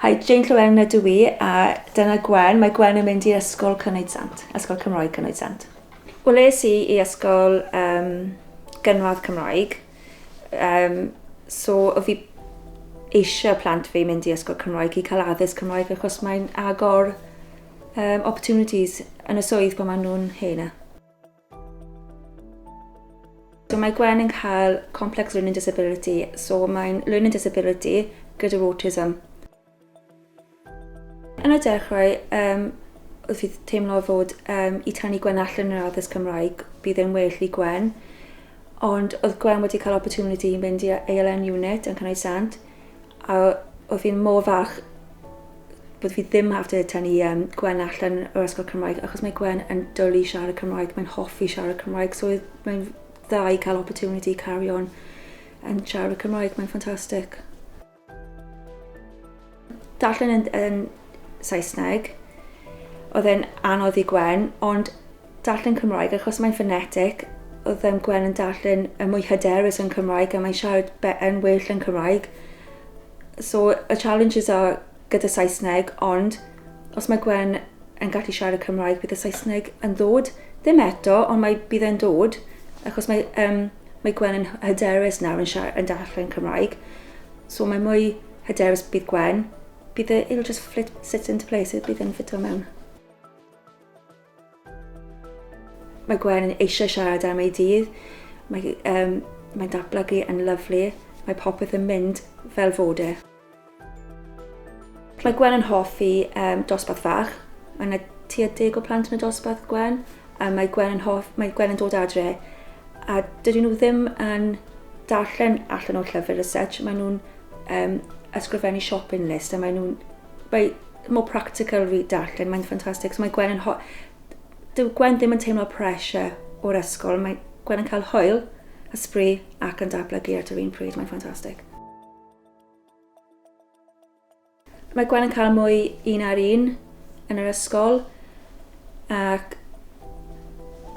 Hi, Jane Llewelyn ydw i, a dyna Gwen. Mae Gwen yn mynd i Ysgol Cynoed Sant, Ysgol Cymraeg Cynoed Sant. Wel, es i i ysgol um, gynradd Cymraeg, um, so o fi eisiau plant fi mynd i ysgol Cymraeg i cael addysg Cymraeg achos mae'n agor Yym, opportunities yn y swydd pan maen nhw'n hen a. So mae Gwen yn cael complex learning disability, so mae'n learning disability gyda'r autism. Yn y dechrau, um, wrth i teimlo fod um, i tynnu Gwen allan yr addysg Cymraeg, bydd e'n well i Gwen. Ond oedd Gwen wedi cael opportunity i mynd i ALN unit yn Cynnau Sant, A oedd hi'n mor falch bod fi ddim have to tynnu um, Gwen allan o'r ysgol Cymraeg, achos mae Gwen yn dwlu i siarad Cymraeg, mae'n hoffi siarad Cymraeg, so mae'n dda i cael opportunity carry on yn siarad y Cymraeg, mae'n ffantastig. Darllen yn, yn Saesneg, oedd e'n anodd i Gwen, ond darllen Cymraeg achos mae'n ffonetic, oedd yym Gwen yn darllen yn mwy hyderus yn Cymraeg a mae'n siarad be- yn well yn Cymraeg. So y challenges are gyda Saesneg ond os mae Gwen yn gallu siarad Cymraeg bydd y Saesneg yn ddod. Ddim eto ond mae bydd e'n dod achos mae yym mae Gwen yn hy- hyderus nawr yn siar- yn darllen Cymraeg. So mae mwy hyderus bydd Gwen. Bydd e it'll just flit sit into place it bydd e'n ffito mewn. Mae Gwen yn eisiau siarad am ei dydd. Mae, um, mae'n datblygu yn lyflu. Mae popeth yn mynd fel fod e. Mae Gwen yn hoffi um, dosbarth fach. Mae yna tua deg o plant yn y dosbarth, Gwen. A mae Gwen yn, hoff, mae Gwen yn dod adre. A dydyn nhw ddim yn darllen allan o'r llyfr y such. Maen nhw'n um, ysgrifennu shopping list a maen nhw'n Mae mor practical fi darllen, mae'n ffantastig. So mae Gwen yn ho... Dyw Gwen ddim yn teimlo pressure o'r ysgol. Mae Gwen yn cael hwyl, ysbri ac yn datblygu at yr un pryd. Mae'n ffantastig. Mae Gwen yn cael mwy un ar un yn yr ysgol ac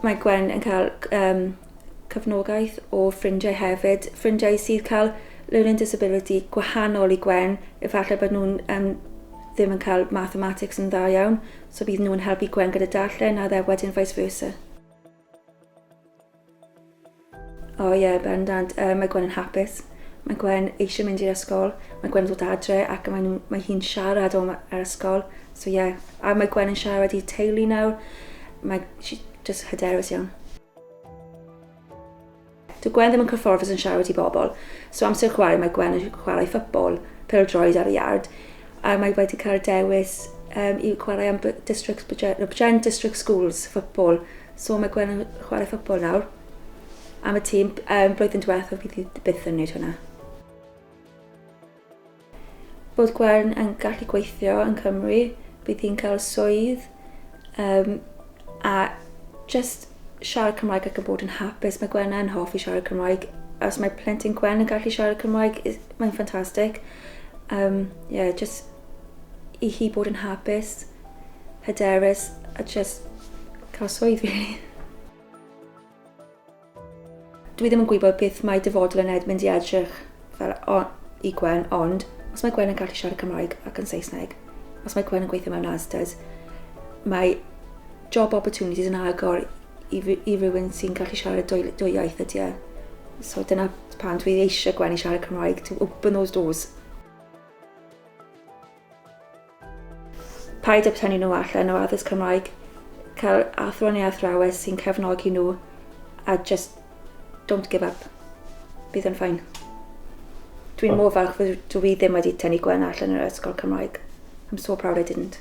mae Gwen yn cael um, Cefnogaeth o ffrindiau hefyd, ffrindiau sydd cael learning disability gwahanol i Gwen, efallai bod nhw'n um, ddim yn cael mathematics yn dda iawn, so bydd nhw'n helpu Gwen gyda darllen a dde wedyn vice versa. O ie, yeah, bendant, uh, mae Gwen yn hapus. Mae Gwen eisiau mynd i'r ysgol, mae Gwen yn dod adre ac mae, nhw, mae hi'n siarad o'n ar ysgol. So ie, yeah. a mae Gwen yn siarad i teulu nawr. Mae, she, just hyderus iawn. Dyw Gwen ddim yn cyfforddus yn siarad i bobl, so amser chwarae mae Gwen yn chwarae ffypbol, pêl-droed ar y iard, a mae wedi cael y dewis um, i chwarae am District, Brent District Schools ffypbol, so mae Gwen yn chwarae ffypbol nawr am y tîm. Um, blwyddyn diwethaf bydd hi byth yn wneud hwnna. Bod Gwern yn gallu gweithio yn Cymru, bydd hi'n cael swydd um, a just siarad Cymraeg ac yn bod yn hapus. Mae Gwen yn hoffi siarad Cymraeg. Os mae plentyn Gwen yn gallu siarad Cymraeg, mae'n ffantastig. Um, yeah, just i hi bod yn hapus, hyderus, a just cael swydd, really. Dwi ddim yn gwybod beth mae dyfodol yn Edmund i edrych fel o, i Gwen, ond os mae Gwen yn gallu siarad Cymraeg ac yn Saesneg, os mae Gwen yn gweithio mewn ASDAs, mae job opportunities yn agor i, i rywun sy'n gallu siarad y dwy, dwy iaith ydy e. So dyna pan dwi eisiau Gwen i siarad Cymraeg, to open those doors. Paid â tynnu nhw allan o addysg Cymraeg. Cael athro neu athrawes sy'n cefnogi nhw a just don't give up. Bydd yn ffain. Dwi'n mor falch fod dwi ddim wedi tynnu Gwen allan o'r ysgol Cymraeg. I'm so proud I didn't.